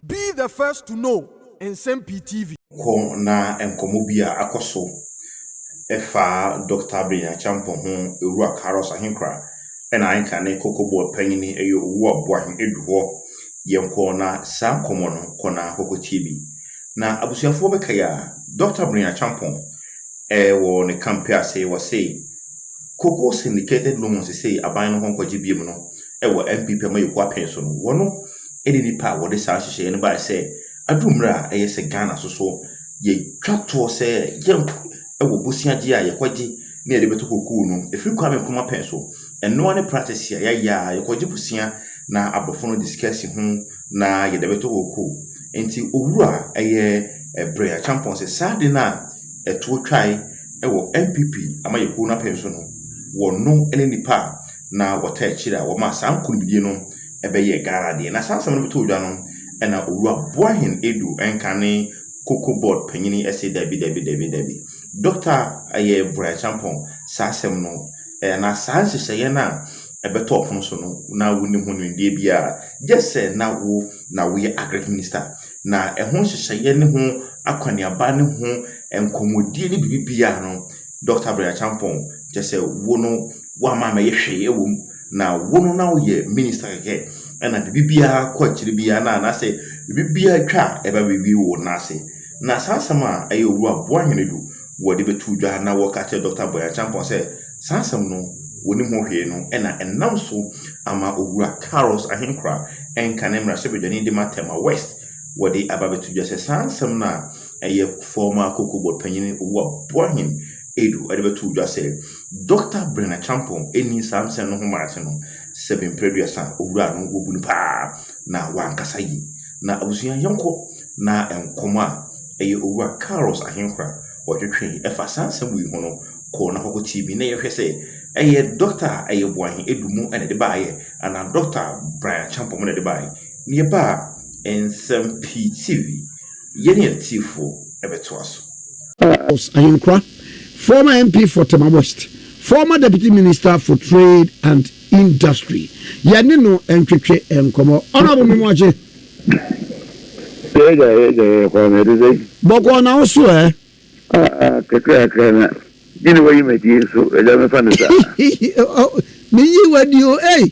Be the first to know Nsɛm Pii TV. Kɔ na nkɔmmɔ bi a akɔ so fa Dɔkta Abena Acheampong ho Owura Carlos Ahenkra na anka ne Koko Board panyin yɛ Owuwa Boahen adu hɔ. Yɛnkɔ na saa nkɔmmɔ no kɔ na kɔkɔ tie bi. Na abusuafoɔ bɛkae a, Dɔkta Abena Acheampong wɔ ne kampe ase wɔ se Koko Syndicated Loan sesei aban no hɔ nkɔgye biom no wɔ NPP Amanyɔkuo apen so no wɔ no ne nnipa a wɔde saa nhyehyɛeɛ no baeɛ sɛ aduru mmerɛ a ɛyɛ sɛ Ghana nso so yɛtwa toɔ sɛ yɛn wɔ bosea gye a yɛkɔgye na yɛde bɛtɔ kokoo no ɛfiri Kwame Nkrumah pɛn so. Ɛnoa ne practice a yɛayɛ a yɛkɔgye bosea na aborɔfo no de sika si ho na yɛde bɛtɔ kokoo. Nti owuro a ɛyɛ ɛbrɛ akyampɔn sɛ saa de no a ɛtoɔ twae wɔ NPP ama yɛkuo no apɛn so no wɔno ne nnipa a na wɔtaa akyiri a wɔmaa saa nkonimdie no ɛbɛyɛɛ Ghana deɛ. Na saa asɛm no bɛtɔɔ dwa no, ɛna Owura Boahen Adu nka ne Cocoa Board panyin yi se dabi, dabi, dabi, dabi. Dɔkta ɛyɛ Brian Acheampong, saa asɛm no, anaa saa nhyehyɛeɛ no a ɛbɛtɔ ɔpono so no, na wonim ho nimdeɛ biara. Gyɛ sɛ na wo na woyɛ Agric Minista. Na ɛho nhyehyɛeɛ ne ho akɔneaba ne ho nkɔmmɔdie ne biribi biara no, Dɔkta Brian Acheampong, kyɛ sɛ wo no, woamma ammɛyɛ hwee wɔ mu. na wo no na woyɛ minister kɛkɛ ɛna biribiara kɔ akyiri biara na anaasɛ biribiara twa a ɛba biribi wo nan ase na saa asɛm a ɛyɛ owura boa hene du wɔde bɛtu dwa na wɔka kyerɛ dɔkta bɔya champɔn sɛ saa asɛm no wɔnim ho hwee no ɛna ɛnam so ama owura carlos ahenkora ɛnka ne mmarahyɛbadwani de ma tema west wɔde aba bɛtu dwa sɛ saa asɛm no a ɛyɛ former koko board panyin owura boa hene edu ɛde bɛtu dwa sɛ Dɔkta Brena Champong nni saa nsɛm no ho mmara ase no, sɛbe mpere aduasa a owuraa no, wobu no paa na wankasa yie. Na abusua yɔnko na nkɔmmɔ a ɛyɛ Owura Carlos Ahenhora ɔtwetwee ɛfa saa nsɛm wei ho no kɔɔ no hɔ kɔtiee bi na yɛhwɛ sɛ ɛyɛ dɔkta a ɛyɛ Boahe Adumu na ɛde baeɛ anaa Dɔkta Brena Champong na ɛde baeɛ. Na yɛba a, Nsɛm Pii TV, yɛne atiefoɔ bɛtoa so. Carlos Ahenhora Former MP for Tema West, Former Deputy Minister for Trade and Industry, yɛne no ntwetwe nkɔmmɔ. Honourable Memoagye. Yɛgya yɛgya yɛ Kwame ɛte sɛ yi. Bɔkɔɔ na wo so ɛ. Aa kakrakra na gye ne wayi m'adie nso ɛgya mefa ne sa. Meyi w'adi o ei.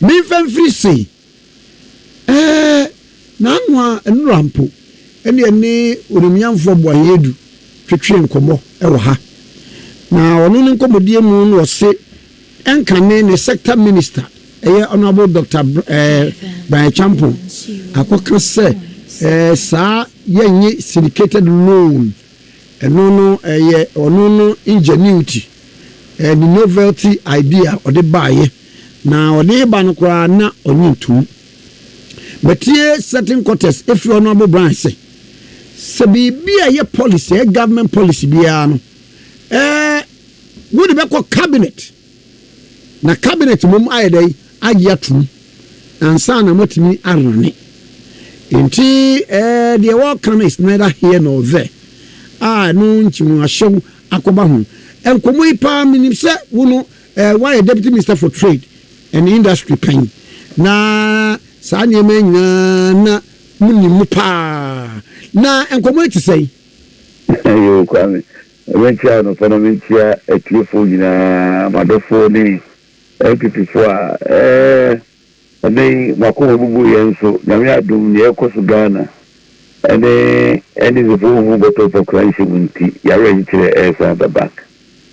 Memfa mfiri se, Ɛɛ, n'anoa nnora mpo, ɛnneɛ ne Onimnyamfoɔ Boayɛ Adu twetwee nkɔmmɔ wɔ ha. Na ɔno ne nkɔmmɔdie mu na ɔse ɛnkane ne sector minister, ɛyɛ Honourable Doctor ɛɛ Brian Acheampong akɔka sɛ ɛɛ saa yɛnnye syndicated loan Ɛno no ɛyɛ ɔno no ingenuity, ɛyɛ ne novelty idea a ɔde baeɛ, na ɔde reba no koraa na ɔnye ntom. Matie certain quarters ɛfiri Honourable Bryan sɛ, sɛ biribi a ɛyɛ policy, ɛyɛ government policy biara no, ɛɛ wode bɛkɔ cabinet, Na cabinet mom ayɛ dɛn agye atom ansa na moatumi arane nti eh deɛ wɔka no is neither here nor there a ɛno nti mo ahyɛw akɔba ho nkɔmmɔ yi paa menim sɛ wo no eh woayɛ deputy minister for trade and industry pɛn na saa nneɛma yi nyinaa na monim mu paa na nkɔmmɔ yi te sɛn? Yoo Kwame, Yɛbɛnkyɛ anɔpa na menkyia atiefoɔ nyinaa, m'adɔfoɔ ne NPP foɔ a ɛɛ ɛnɛ yi mo akoma bubu yɛn nso Nyame adom neɛ ɛrekɔ so Ghana ɛne NDC foɔ nhu bɔtɔ pɔ kra nhyɛ mu nti y'awerɛnkyerɛ ɛresan aba back.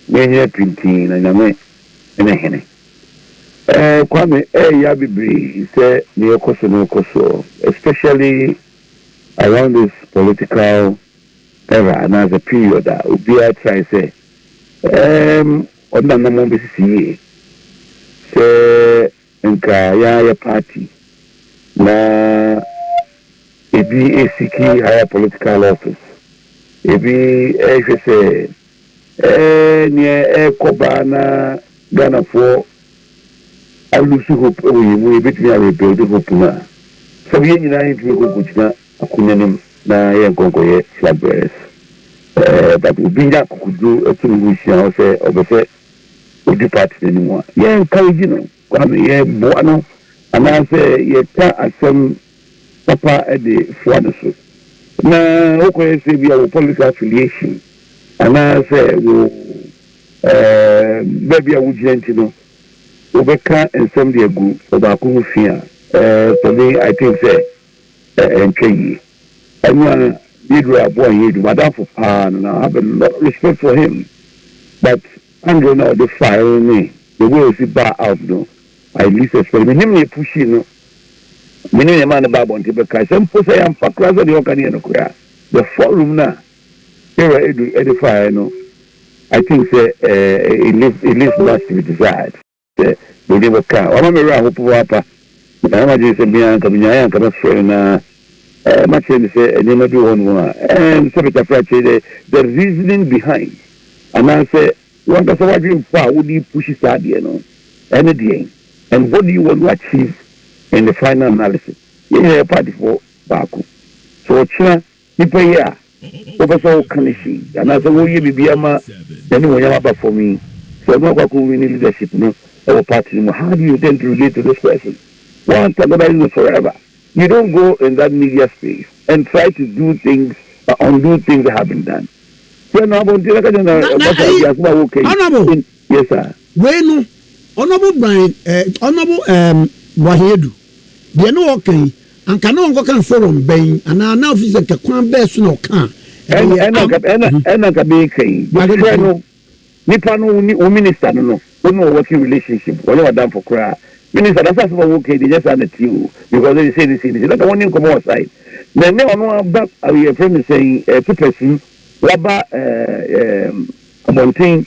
Mo anyina pintinn na Nyame ne hene. Ɛɛ Kwame ɛyɛ ya bebree sɛ neɛ ɛrekɔ so no rekɔ soɔ especially around this political. era anaasɛ period a obiara trae sɛ ɛɛm ɔne n'anammɔn bɛsisi yie. Sɛ nka yɛn ara yɛ party na ebi resiki higher political office, ebi rehwɛ sɛ ɛɛ neɛ ɛrekɔ ba na Ghanafoɔ a lose hope wɔ yɛn mu yɛbɛtumi a rebuild hope no a, sɛbe yɛn nyinaa yɛntumi nkɔ nkɔgyina Akunyanim na yɛ nkɔnkɔyɛ flag bearers pɛɛ but obi nya akokoduro ɛto ne ho hyia hɔ sɛ ɔpɛsɛ ɔdi party no anim a yɛ encourage no Kwame yɛ boa no anaa sɛ yɛ ka asɛm papa de foa no so na wo kɔyɛ sɛ ebia wo political affiliation anaa sɛ wo ɛɛm baabi a wo gyina nti no wo bɛka nsɛm de agu ɔbaako ho fi a ɛɛ for me I think sɛ Ɛ ɛ ntwa yie. Ɛna Gabriel aboa yɛn adwuma. M'adamfo paa no, na I have a lot of respect for him but Andre no a ɔde faeɛ no ne the way a ɔsi baa out no, I least expect. Menim nea ɛpushii no, menim nea ɛmaa no baa abɔnten bɛkae sɛ mpo sɛ yɛamfa koraa sɛ deɛ ɔreka no yɛ nokorɛ a, the forum no a Gabriel Adu de faeɛ no, I think sɛ ɛ ɛ it leaves it leaves much to be desired. Sɛ mede wo ka a, wama me werɛ ahopopo ara pa. Metaa yɛ m'adwene sɛ me ara anka minyae a anka mɛfrɛ no na makyerɛ no sɛ nneɛma bi wɔ hɔnom a ɛɛm sɛ mekyafre akyerɛ dɛ the reasoning behind anaasɛ w'ankasa w'adwempa a wode repushi saa adeɛ no ɛne deɛn and what do you want to achieve in the final analysis. Yɛn nyinaa yɛ partyfoɔ baako. So ɔkyena Nipa yi a wopɛ sɛ woka no si anaasɛ woreyɛ biribi ama n'animuonyam aba fam yi, sɛ ɔno akɔ akɔ wini leadership no wɔ party no mu, how do you intend to relate to this person? Wo antagonize no forever. You don't go in that media space and try to do things or undo things that have been done. Frɛ no abɔnten na ka kyerɛ no sɛ, Ɔbasa, di asɛm a woreka yi. Yɛ saa. Wei no, Honourable Brian eh, Honourable ehm Boahen Adu, deɛ na ɔɔka yi, anka na ɔnkɔka no forum bɛn, anaa na ɔfiri sɛ nka kwan bɛɛ so na ɔka a, ɛbɛyɛ Ɛna, ɛna anka, ɛna, mhm, ɛna anka meeka yi. Boahen Adu, Frɛ no, mhm. nipa no, wo ne, wo minister no no, wo ne wɔ working relationship, wɔnyɛ w'adamfo koraa. Minister no, asɛm a woka yi deɛ, ɛnyɛ saa na ɛteɛ o, because ɛyɛ sei ne sei ne sei, na anka wɔne nkɔmmɔ wɔ side. Na ɛnnɛ ɔno aba, ah, yɛfrɛ no sɛn, eh, Pepersum, waba eh, ehm, abɔnten,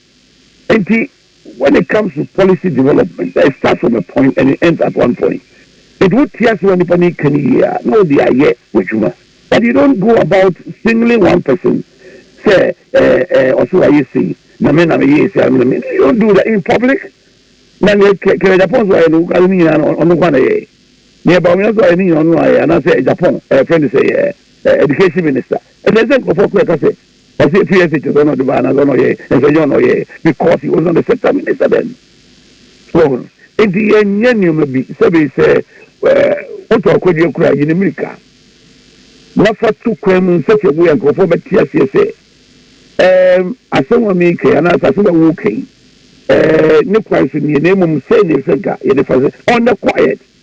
Enti when it comes to policy development that it starts from a point and it ends at one point nti wo te ase wɔ nipa no ika no yie a na wo de ayɛ w'adwuma but you don't go about singling one person sɛ ɛɛ eh, ɛɛ eh, ɔsɛ wayɛ sei na me na me yɛ esi ano na me you don't do that in public na ne kɛ kɛ Japan so ayɛ no wokari ne nyinaa no ɔno kwan na yɛ ne ɛba ɔmo so ayɛ ne nyinaa ɔno ayɛ anaasɛ Japan ɛɛ eh, friend sɛ ɛɛ eh, education minister ɛsɛ sɛ nkurɔfoɔ kura ka sɛ Ɔse fi ase kyerɛ sɛ ɔna ɔde bae anaasɛ ɔna ɔyɛe nanso ɛnyɛ ɔna ɔyɛe because he was not the sector minister then. So wɔhu no? Nti yɛnyɛ nneɛma bi sɛbe sɛ woto akwadie koro a yi ne mmirika na fa to kwan mu in such a way a nkurɔfoɔ bɛte aseɛ sɛ ɛɛm asɛm a meeka yi anaasɛ asɛm a woreka yi ɛɛ ne kwan so nie na mmom sei na ɛsɛ nka yɛde fa sɛ on the quiet.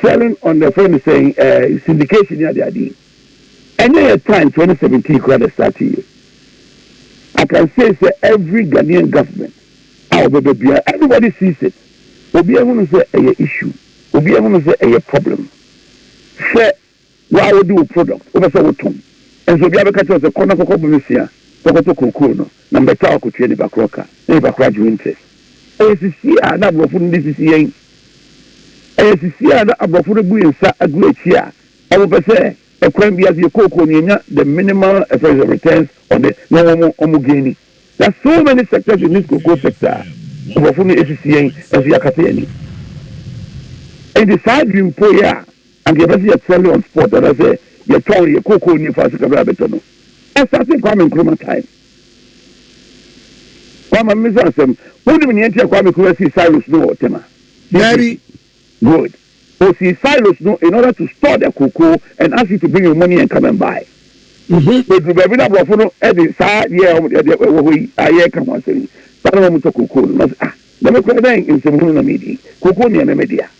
Selling on the friend sɛn ɛɛ syndication ne adeade yi ɛnyɛ yɛ time twenty seventeen koraa na ɛstartee yɛ I can say sɛ every Ghanaian government a ɔbɛba biara everybody sees it obiara hunu sɛ ɛyɛ issue obiara hunu sɛ ɛyɛ problem hwɛ Wo a wodi wo product, wopɛ sɛ wotɔn, nso obiara bɛka kyerɛ wo sɛ kɔ na kɔkɔbɔ me sua kɔkɔtɔ kokoo no, na mebɛtaa wo akotua nipa korɔ ka, na nipa korɔ agye wo interest. Ɛyɛ sisi a na aborɔfo no de sisi yɛn. Ɛyɛ sisi a na aborɔfo no bu yɛn nsa agu akyi a wɔpɛ sɛ ɛkwan biara so yɛ kookoo no yɛnya the minimal ɛfrɛ sɛ returns on it na wɔn wɔn gaini. There are so many sectors in this cocoa sector a aborɔfo no asisi yɛn nso yɛakata yɛn ani. Enti saa dwimpo yi a. Anka yɛbɛse yɛ fɔle on spot anasɛ yɛ tɔn yɛ kokoo nie faa so ka bere a bɛtɔ no. Ɔsase Kwame Nkrumah time. Kwa ma me so asɛm, wonim nea nti a Kwame Kura sii silos no wɔ Tema? Mary. Good. Osii silos no in order to store the cocoa and ask you to bring your money and come and buy. Bɛduru baabi na aborɔfo no de saa yɛ wɔn deɛ deɛ ɛwɔ hɔ yi a yɛreka ho asɛm yi saa na wɔn tɔ cocoa no na ɔsɛ ah na me kura dɛn nsɛmhunu na medi cocoa nea ɛmɛ me dea.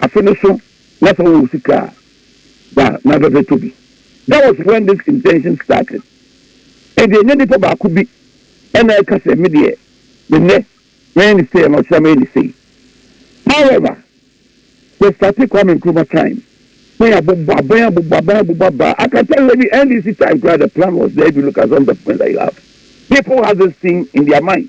Afe no so na sɛ ɔwɔ sika a, da na afɛfɛ tɔ bi. That was when this intention started. Ɛnde ɛnyɛ nipa baako bi na ɛka sɛ me deɛ me nnɛ mɛyɛ no sei anaa ɔkyena mɛyɛ no sei. However, sɛ starte Kwame Nkrumah time, na yɛabobɔ aban abobɔ aban abobɔ abaa, I can tell you ɛne NDC time koraa the plan was there if you look at some documents that you have. People has this thing in their mind.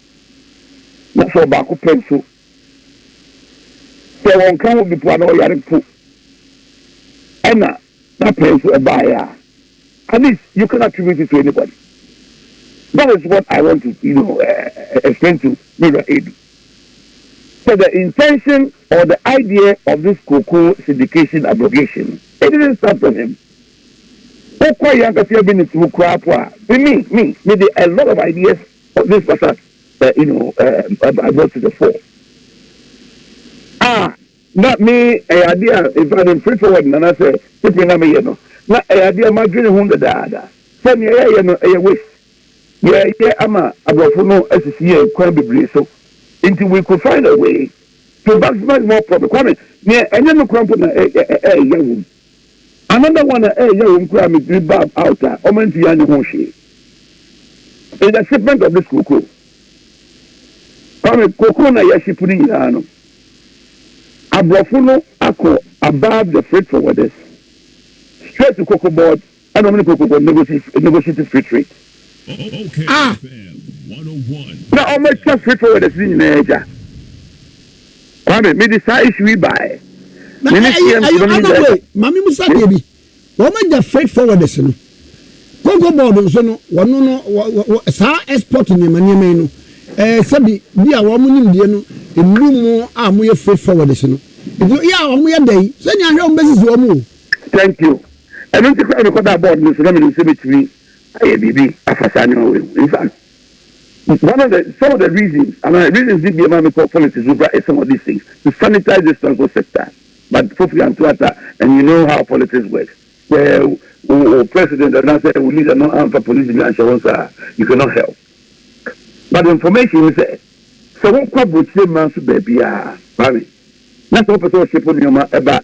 Wofo ɔbaako pɛ nso, sɛ wɔnka ho bi mpo a, na ɔyare mpo. Ɛnna na pɛn nso ɛbaeɛ a, at least you can't attribute it to anybody. That is what I want to, you know, uh, explain to Mira Edu. So the intention or the idea of this Koko syndication abrogation, it didn't start from him. Koko Yankasi Abinitsu Krapo, me, me, me did a lot of ideas But this matter, uh, you know, uh, I, I brought to the fore. Ah, na me ɛyɛ adeɛ a in fact mfiri forward nana sɛ pepere na meyɛ no na ɛyɛ adeɛ a madwene ho dadaada sɛ nea yɛyɛ no ɛyɛ waste yɛyɛ ama aborɔfo no asisi yɛn kwan bebree so nti we could find a way to maximize more profit kwame nea ɛnyɛ no kora mpo na ɛyɛ wom Another one a ɛyɛ wɔn koraa me tiri bab out a wɔn antumi anyɛ ho hwee is the shipment of this cocoa. Kwame, cocoa na yɛ ship no nyinaa no, aborɔfo no akɔ above the freight forwarders straight to cocoa board. Ɛna ɔmo ne Paulo kɔkɔ negotiate negotiate free trade. Ah! Na ɔmo akyia free forwarders ne nyinaa agya. Kwame, me de saa issue yi baeɛ. Na Me ne ɛyɛ CMC ɛyɛ no ne anam wei nyinaa. maame mu sa deɛ bi wɔn agya freight forwarders no koko board nso no wɔn no wɔ- wɔ- wɔ- saa export nneɛma nneɛma yi no ɛɛ sɛbi bi a wɔn nim deɛ no nnuru mu a wɔyɛ freight forwarders no nti yɛ a wɔn yɛ dɛ yi sɛnea ahwɛ wɔn bɛsisi wɔn o. Thank you. Ɛno nti koraa na mekɔdaa board no so na menim sɛ mɛtumi ayɛ biribi afa saa nneɛma wei ho. In fact, one of the, some of the reasons, and I reasons did be ma mekɔ politics mu koraa is some of these things, to sanitize this transport sector. But Fofi Anto Atta, and you know how politics works, sɛ wo wo president anaasɛ wo leader no amfa police bi anhyɛ wo nsa a, you cannot help. But the information ne sɛ, sɛ wokɔ aburokyire mmaa nso baabiara, Kwame, na sɛ wopɛ sɛ wo ship nneɛma ɛba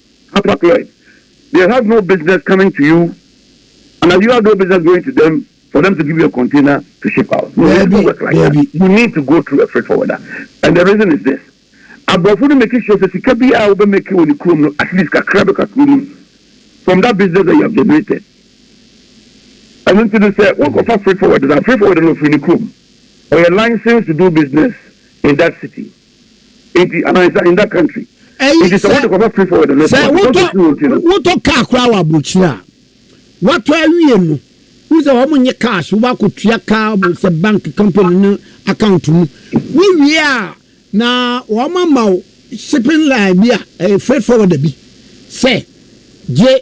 Papa Cled, they have no business coming to you and you have no business going to them for them to give you a container to ship out. No, it doesn't work like that. You need to go through a freight forwarder. And the reason is this. Aborɔfo no make sure sɛ sika bi a wobɛmake wɔ ne kurom no at least kakra bɛka kuro no mu from that business that you have generated. ɛno nti no sɛ wokɔfa freight forwarder na freight forwarder no ɔfiri ne kurom ɔyɛ license to do business in that city. Enti anaa is that in that country? Ɛyi Enti sɛ sɛ wode kɔfa free forward no sɛ ɛfɔ because wotɔ ɔtiri wɔn ti no. wotɔ kaa koraa wɔ aburokyire a watɔ awie no wone sɛ wɔn nye cash wobɛ akɔtua kaa wɔ sɛ bank company no account mu wowie a na wɔn ama wo shipping line bi a ɛyɛ freight forwarder bi sɛ gye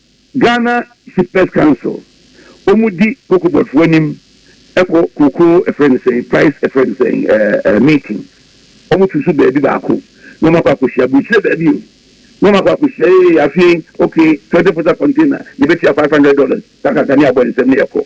Ghana Shippers Council wɔn di cocoa board foɔ anim kɔ kokoo ɛfrɛ no sɛn price ɛfrɛ no sɛn ɛɛ meeting wɔn tu so baabi baako na wɔn akɔ akɔhyia aburukyire baabi o na wɔn akɔ akɔhyia ee afei okay twenty footer container yɛbɛtua five hundred dollars kakaka ne abɔ nsɛm ne yɛkɔ.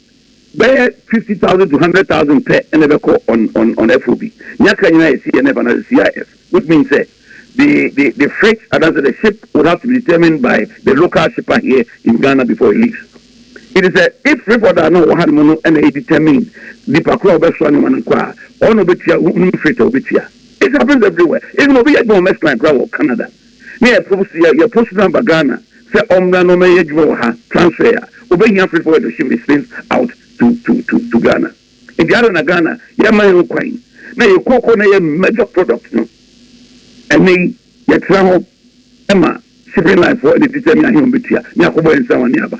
Bɛyɛ fifty thousand to hundred thousand pɛ na ɛbɛkɔ on on on FOB. Nea aka nyinaa yɛ CNF anaasɛ CIF, which means sɛ the the the freight anaasɛ the ship would have to be determined by the local shipper here in Ghana before it leaves. Enti sɛ if freight forwarder a na ɔwɔ hanom no na e determine nipa koro a ɔbɛsoa nneɛma no nko a, ɔno na ɔbɛtua, wonim freight a ɔbɛtua. It happens everywhere. Even obi yɛ adwuma wɔ Maersk Line koraa wɔ Canada. na yɛpow so yɛ yɛ post number Ghana sɛ ɔmmra na ɔmmɛyɛ adwuma wɔ ha transfer a obehia freight forward to ship his things out to to to to Ghana enti adɛn na Ghana yɛmma yɛn ho kwan na yɛ cocoa na ɛyɛ major product no ɛnnɛ yi yɛtra hɔ ma shipping line foɔ ne ti sɛ me ahe ɔmbetua me akɔbɔ yɛn nsa wɔn ne aba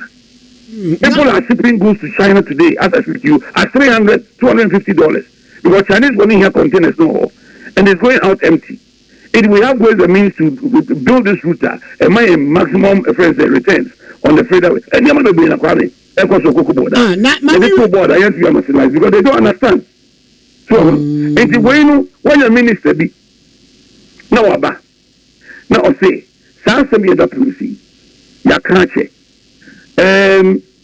people are shipping goods to China today as I speak to you at three hundred two hundred and fifty dollars because Chinese foɔ no hia containers no wɔ hɔ and it's going out empty. If we have ways and means to build this route a, ɛma yɛn maximum ɛfrɛ no sɛ returns on the freighter way. Nneɛma bebree na Kwame ɛkɔ so koko board a, Ah, na ma yɛde me to board a yɛntumi ama si life because they don't understand. So ɔho no. Nti wei no wɔanya minister bi na waba na ɔse saa asɛm yɛda polisi yi yɛaka akyɛ ɛɛm,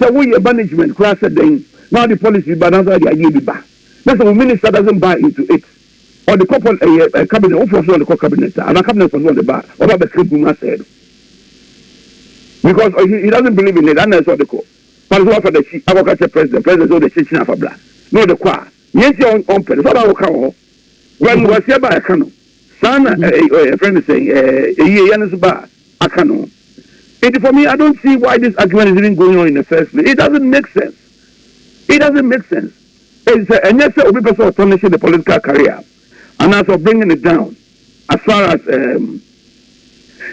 Sɛ wo yɛ management koraa sɛ dɛn na wode policy bi ba anaasɛ wode adeɛ bi ba na sɛ wo minister doesn't buy into it ɔde kɔ pol ɛyɛ ɛ cabinet wofoɔ so na ɔde kɔ cabinet a anaa cabinet foɔ so na ɔde ba a waba bɛka gu mu asɛe no because ɔ he he doesn't believe in it ana ɛsɛ ɔde kɔ fa no so wafa n'akyi akɔka kyɛ president president sɛ ɔde kyɛ kyina afa bra na ɔde kɔ a neɛ nti a ɔmpɛ no sɛ ɔba akɔka wɔ hɔ gua no wasia ba ɛka no Saa na yɛfrɛ no sɛn? Eyi yɛ yɛn so ba a aka no ho. Enti for me, I don't see why this argument is even going on in the first place. It doesn't make sense. It doesn't make sense. Sɛ ɛnyɛ sɛ obi pɛ sɛ ɔtɔ ne hye ne political career anaasɛ ɔ bringing it down as far as um,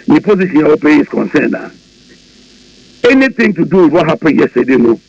ne position a ɔpɛ is concerned a, anything to do with what happened yesterday no,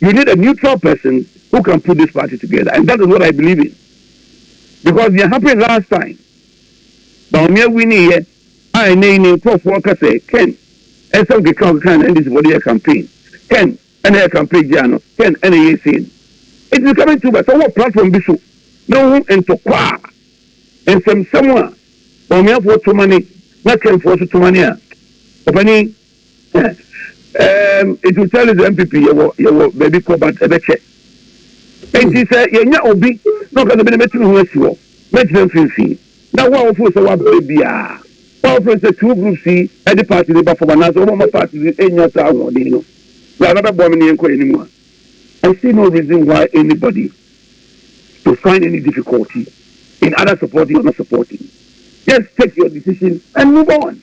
You need a neutral person who can put this party together and that is what I believe in because nea happen last time Bawumia winnieɛ a ɛnɛ yi ne nkurɔfoɔ ka sɛ Ken ɛsɛ wokeka wokeka na NDC bɔde yɛ campaign Ken ɛna yɛ campaign gyaa no Ken ɛna yɛ sei no it is coming to ba sɛ wɔ platform bi so na wohu ntɔkwa a nsɛmsɛm a Bawumiafoɔ tomane na Kenfoɔ so tomane a ɔpanin um, it will tell his MPP yɛwɔ yɛwɔ baabi kɔ but ɛbɛkyɛ. Nti sɛ yɛnya obi na ɔka sɛ bi na mɛtumi ho asi hɔ, mɛgyina mfimfini. Na wo a wofo sɛ wabere biara, wo a wofo sɛ two groups yi ɛde party de ba fam anaasɛ wɔn ma party de enya saa ahoɔden no, bra na bɛboa me ne yɛn kɔ yɛn anim a. I see no reason why anybody to find any difficulty in either supporting or not supporting. Just take your decision and move on.